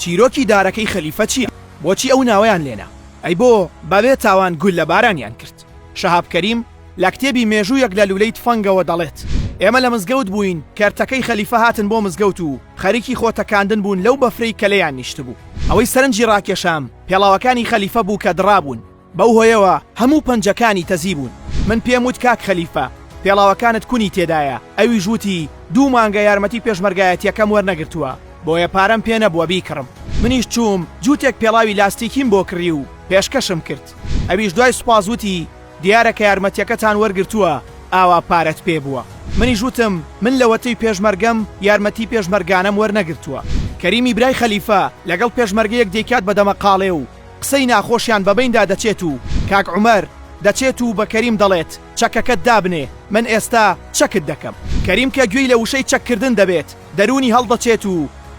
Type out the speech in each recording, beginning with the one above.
چیرۆکی دارەکەی خەلیفە چیە؟ بۆچی ئەو ناوەیان لێنا؟ ئەی بۆ بەبێ تاوان گوللە بارانیان کرد؟ شەهاب کەریم لە کتێبی مێژوویەک لە لولەی تفەنگەوە دەڵێت ئێمە لە مزگەوت بووین کەرتەکەی خەلیفە هاتن بۆ مزگەوت و خەریکی خۆ تەکاندن بوون لەو بەفرەی کە لێیان نیشتبوو ئەوەی سەرنجی ڕاکێشام پێڵاوەکانی خەلیفە بوو کە دڕابوون بەو هۆیەوە هەموو پەنجەکانی تەزی بوون. من پێم وت کاک خەلیفە، پێڵاوەکانت کونی تێدایە، ئەویش وتی دوو مانگە یارمەتی پێشمەرگایەتییەکەم وەرنەگرتووە، بۆیە پارەم پێ نەبووە بیکڕم. منیش چووم جووتێک پێڵاوی لاستیکیم بۆ کڕی و پێشکەشم کرد. ئەویش دوای سوپاس وتی دیارە کە یارمەتییەکەتان وەرگرتووە ئاوا پارەت پێ بووە. منیش وتم من لەوەتەی پێشمەرگەم یارمەتی پێشمەرگانەم وەرنەگرتووە. کەریمی برای خەلیفە لەگەڵ پێشمەرگەیەک دەیکات بە دەمەقاڵێ و قسەی ناخۆشیان بە بەیندا دەچێت و کاک عومەر دەچێت و بە کەریم دەڵێت چەکەکەت دابنێ من ئێستا چەکت دەکەم. کەریم کە گوێی لە وشەی چەک کردن دەبێت دەروونی هەڵدەچێت و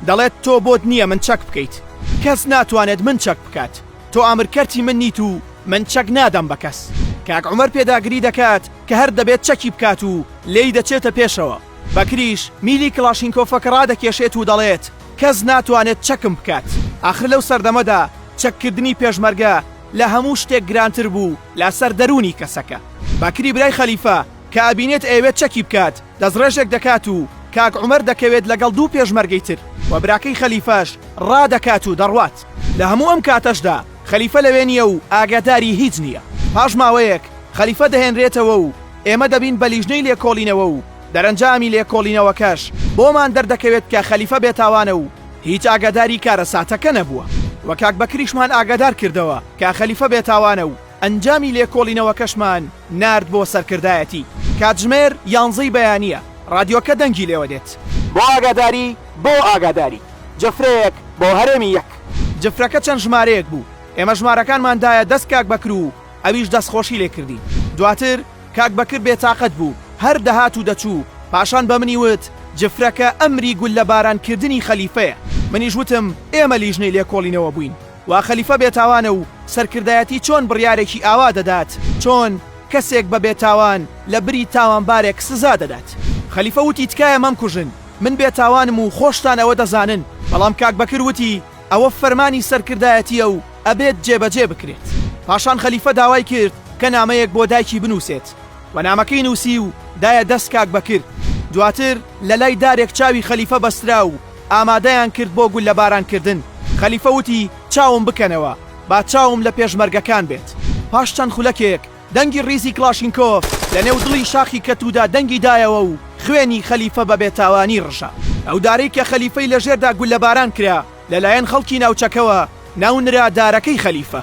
دەڵێت تۆ بۆت نییە من چەک بکەیت کەس ناتوانێت من چەک بکات تۆ ئامر کەرتی من نیت و من چەک نادەم بە کەس. کاک عومەر پێداگری دەکات کە هەر دەبێت چەکی بکات و لێی دەچێتە پێشەوە. بەکریش میلی کڵاشینکۆفەکە ڕادەکێشێت و دەڵێت، کەس ناتوانێت چەکم بکات. ئاخر لەو سەردەمەدا چەککردنی پێشمەرگە لە هەموو شتێک گرانتر بوو لەسەر دەروونی کەسەکە. باکری برای خەلیفە کە ئەبینێت ئەیەوێت چەکی بکات، دەستڕێژێک دەکات و کاک عومەر دەکەوێت لەگەڵ دوو پێشمەرگەی تر و براکەی خەلیفەش ڕادەکات و دەڕوات. لە هەموو ئەم کاتەشدا خەلیفە لەوێ نییە و ئاگاداری هیچ نییە. پاش ماوەیەک خەلیفە دەهێنرێتەوە و ئێمە دەبین بە لیژنەی لێکۆڵینەوە و دەرەنجامی لێکۆڵینەوەکەش بۆمان دەردەکەوێت کە خەلیفە بێتاوانە و هیچ ئاگاداری کارەساتەکە نەبووە و کاک بەکریشمان ئاگادار کردەوە کە خەلیفە بێتاوانە و ئەنجامی لێکۆڵینەوەکەشمان نارد بۆ سەرکردایەتی. کاتژمێر یانزە ی بەیانییە، ڕادیۆکە دەنگی لێوە دێت. بۆ ئاگاداری، بۆ ئاگاداری. جفرەیەک بۆ هەرێمی یەک. جفرەکە چەند ژمارەیەک بوو. ئێمە ژمارەکانمان دایە دەست کاک بەکر و. ئەویش دەستخۆشی لێ کردی. دواتر کاک بەکر بێتاقەت بوو، هەر دەهات و دەچوو، پاشان بە منی وت، جفرەکە ئەمری گوللەبارانکردنی خەلیفەیە. منیش وتم، ئێمە لیژنەی لێکۆڵینەوە بووین، وا خەلیفە بێتاوانە و سەرکردایەتی چۆن بڕیارێکی ئاوا دەدات، چۆن کەسێک بە بێتاوان لەبری تاوانبارێک سزا دەدات؟ خەلیفە وتی، تکایە مەمکوژن، من بێتاوانم و خۆشتان ئەوە دەزانن. بەڵام کاک بەکر وتی، ئەوە فەرمانی سەرکردایەتییە و ئەبێت جێبەجێ بکرێت. پاشان خەلیفە داوای کرد کە نامەیەک بۆ دایکی بنووسێت و نامەکەی نووسی و دایە دەست کاک بەکر. دواتر لە لای دارێک چاوی خەلیفە بەسترا و ئامادەیان کرد بۆ گوللەباران کردن. خەلیفە وتی چاوم بکەنەوە، با چاوم لە پێشمەرگەکان بێت. پاش چەند خولەکێک دەنگی ڕیزی کڵاشینکۆف لە نێو دڵی شاخی کەتوودا دەنگی دایەوە و خوێنی خەلیفە بە بێتاوانی ڕژا. ئەو دارەی کە خەلیفەی لە ژێردا گوللەباران کرا، لە لایەن خەڵکی ناوچەکەوە ناونرا دارەکەی خەلیفە.